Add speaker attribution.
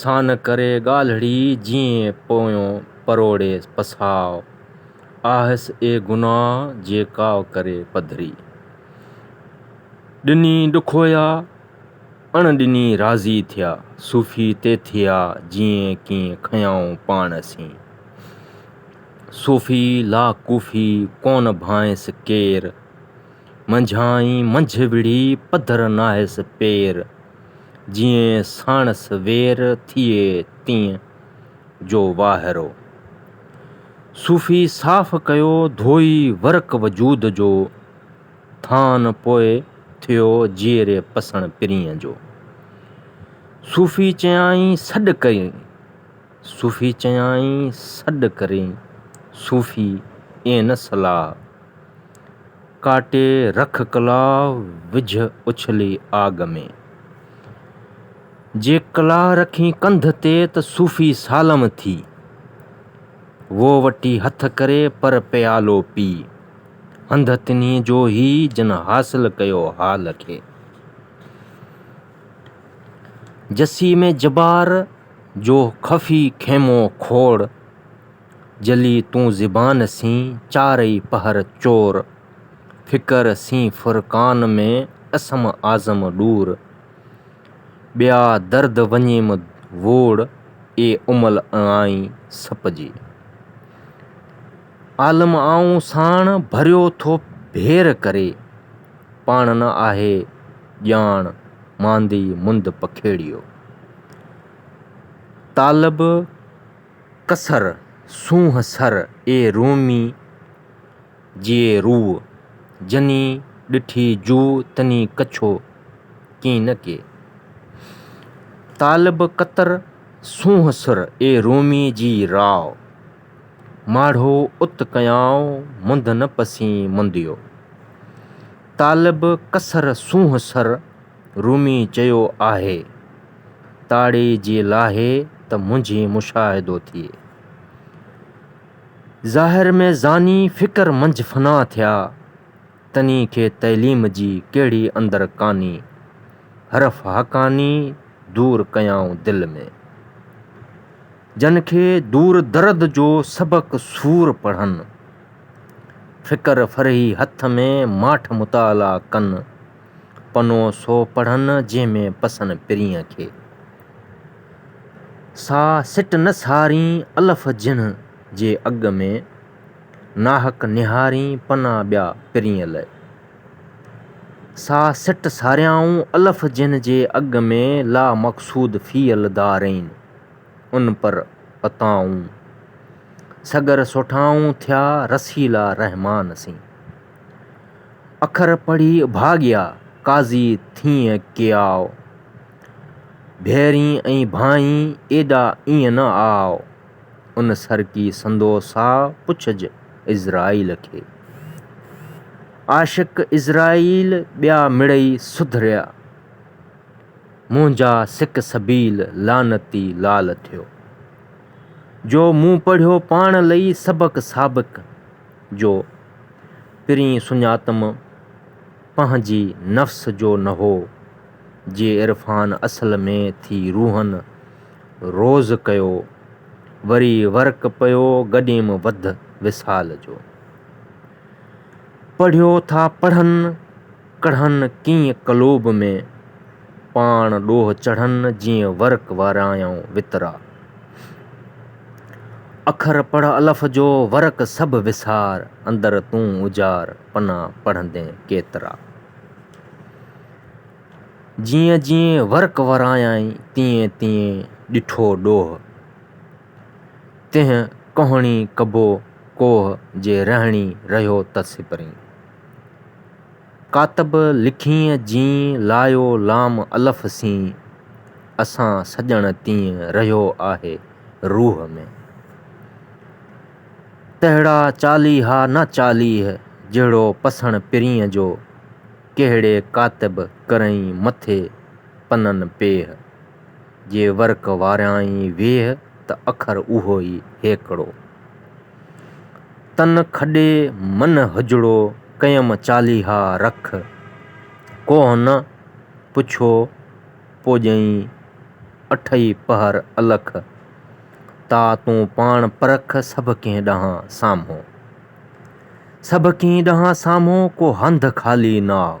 Speaker 1: سان ڪري ڳالهڙي جيئن پويون پروڙي پساء. آهس اي گناهه جي ڪاء ڪري پڌري. ڏني ڏکويا اڻ ڏني راضي ٿيا. صوفي تيٿيا جيئن ڪيئن کنيائون پاڻ سين. صوفي لا ڪوفي ڪون ڀانئس ڪير. منجهانئن منجهه وڙهي پڌر ناهيس پير. جيئن ساڻس وير ٿئي تيئن جو واهرو. صوفي صاف ڪيو ڌوئي ورق وجود جو، ٿان پوء ٿيو جيئري پسڻ پرينء جو. صوفي چيائين سڏ ڪرين، صوفي چيائين سڏ ڪرين، صوفي اين صلاح. ڪاٽي رک ڪلا وجهه اڇلي آڳ ۾. جي ڪلا رکين ڪنڌ تي ته صوفي سالم ٿي. وو وٽي هٿ ڪري پر پيالو پي. هنڌ تنهي جو هي جن حاصل ڪيو حال کي. جسيم جبار جو خفي خيمو کوڙ. جلي تون زبان سين چارئي پهر چور، فڪر سين فرقان ۾ اسم اعظم ڏور، ٻيا درد وڃيم ووڙ اي امل اڱائي سپ جي. عالم آئون ساڻ ڀريو ٿو ڀير ڪري، پاڻ نه آهي ڄاڻ ماندي مند پکيڙيو. طالب! ڪسر سونهن سر اي رومي جيء روء، جني ڏٺي جوء تني ڪڇو ڪين نه ڪي. طالب قطر سونهن سر اي رومي جي راء، ماڙهو ات ڪيائون منڌ نه پسين منڌيو. طالب قصر سونهن سر، رومي چيو آهي. تاڙي جي لاهي ته منجهي مشاهدو ٿئي. ظاهر ۾ زاني فڪر منجهه فنا ٿيا، تني کي تعليم جي ڪهڙي اندر ڪاني، حرف حقاني دور ڪيائون دل ۾. جن کي دور درد جو سبق سور پڙهن. فڪر ڦرهي هٿ ۾، ماٺ مطالعا ڪن. پنو سو پڙهن، جنهن ۾ پسن پرينء کي. سا سٽ نه سارين، الف جنهن جي اڳ ۾. ناحق نهارين، پنا ٻيا پرينء لئه. سا سٽ ساريائون، الف جنهن جي اڳ ۾. لا مقصود في الدارين. ان پر پتائون، سڳر سوٺائون ٿيا رسيلا رحمان سين. اکر پڙهي ڀاڳيا قاضي ٿينء ڪيائو، ڀيرين ۽ ڀانئين ايڏا ايئن نه آئو. ان سرڪي سندو سا پڇج عزرائيل کي. عاشق عزرائيل ٻيا مڙئي سڌريا. منهنجا سڪ سبيل لعنتي لال ٿيو. جو مون پڙهيو پاڻ لئي سبق سابق جو. پرين سڃاتم پنهنجي نفس جو نه هو. جي عرفان اصل ۾ ٿي روحن روز ڪيو. وري ورق پيو گڏيم وڌ وصال جو. پڙهيو ٿا پڙهن، ڪڙهن ڪيئن قلوب ۾، پاڻ ڏوهه چڙهن جيئن ورق واريائون وترا. اکر پڙهه الف جو، ورق سڀ وسار، اندر تون اجار، پنا پڙهندين ڪيترا. جيئن جيئن ورق ورايائين، تيئن تيئن ڏٺو ڏوهه. تنهن ڪهڻي ڪبو ڪوه جي رهڻي رهيو ته سپرين. ڪاتب لکينء جيئن لايو لام الف سين اسان سڄڻ تيئن رهيو آهي روح ۾. تهڙا چاليها نه چاليهه جهڙو پسڻ پرينء جو ڪهڙي ڪاتب ڪرئين مٿي پنن پيهه. جي ورق واريائين ويهه ته اکر اهو ئي هيڪڙو. تن کڏي من هجڙو ڪيم چاليها رک. ڪوهه نه پڇو پوڄئين اٺئي پهر الک. تا تون پاڻ پرک سڀ ڪنهن ڏانهن سامهو. سڀ ڪنهن ڏانهن سامهو ڪو هنڌ خالي ناهه.